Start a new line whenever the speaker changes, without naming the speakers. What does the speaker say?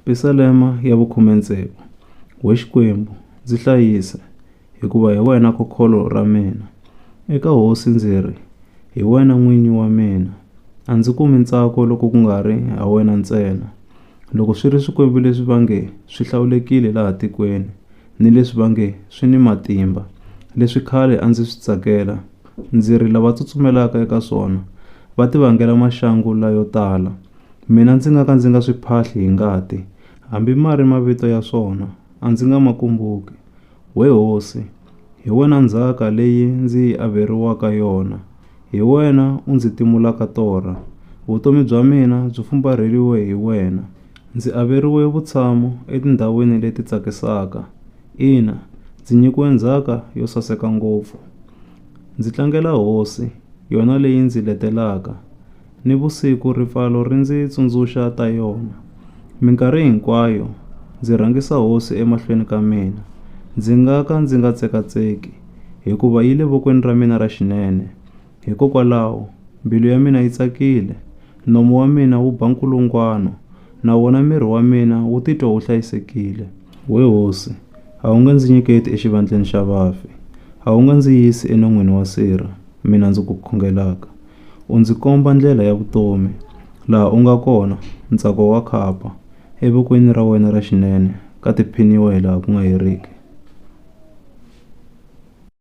Pisalema ya vukhume-ntsevu. We Xikwembu, ndzi hlayisa, hikuva hi wena kokholo ra mina. Eka Hosi ndzi ri, Hi wena n'winyi wa mina. A ndzi kumi ntsako loko ku nga ri ha wena ntsena. Loko swi ri swikwembu leswi va nge swi hlawulekile laha tikweni, ni leswi va nge swi ni matimba, leswi khale a ndzi swi tsakela, ndzi ri lava tsutsumelaka eka swona va tivangela maxangu layo tala, Mina ndzi nga ka ndzi nga swi phahli hi ngati, hambi ma ri mavito ya swona, a ndzi nga ma kumbuki. We hosi, hi wena ndzhaka leyi ndzi yi averiwaka yona, hi wena u ndzi timulaka torha. Vutomi bya mina byi fumbarheriwe hi wena, ndzi averiwe vutshamo etindhawini leti tsakisaka. Ina, ndzi nyikiwe ndzhaka yo saseka ngopfu. Ndzi tlangela hosi, yona leyi ndzi letelaka. Nivusiku ripfalo ri ndzi tsundzuxa ta yona. Minkarhi hinkwayo ndzi rhangisa Hosi emahlweni ka mina, ndzi nga ka ndzi nga tsekatseki, hikuva yi le vokweni ra mina ra xinene. Hikokwalaho, mbilu ya mina yi tsakile, nomu wa mina wu ba nkulungwano, na wona miri wa mina wu titwa wu hlayisekile. We Hosi, a wu nge ndzi nyiketi exivandleni xa vafi, a wu nge ndzi yisi enon'wini wa sirha, mina ndzi ku khongelaka. U ndzi komba ndlela ya vutomi, laha u nga kona, ntsako wa khapa, evokweni ra wena ra xinene ka tiphiniwa hilaha ku nga heriki.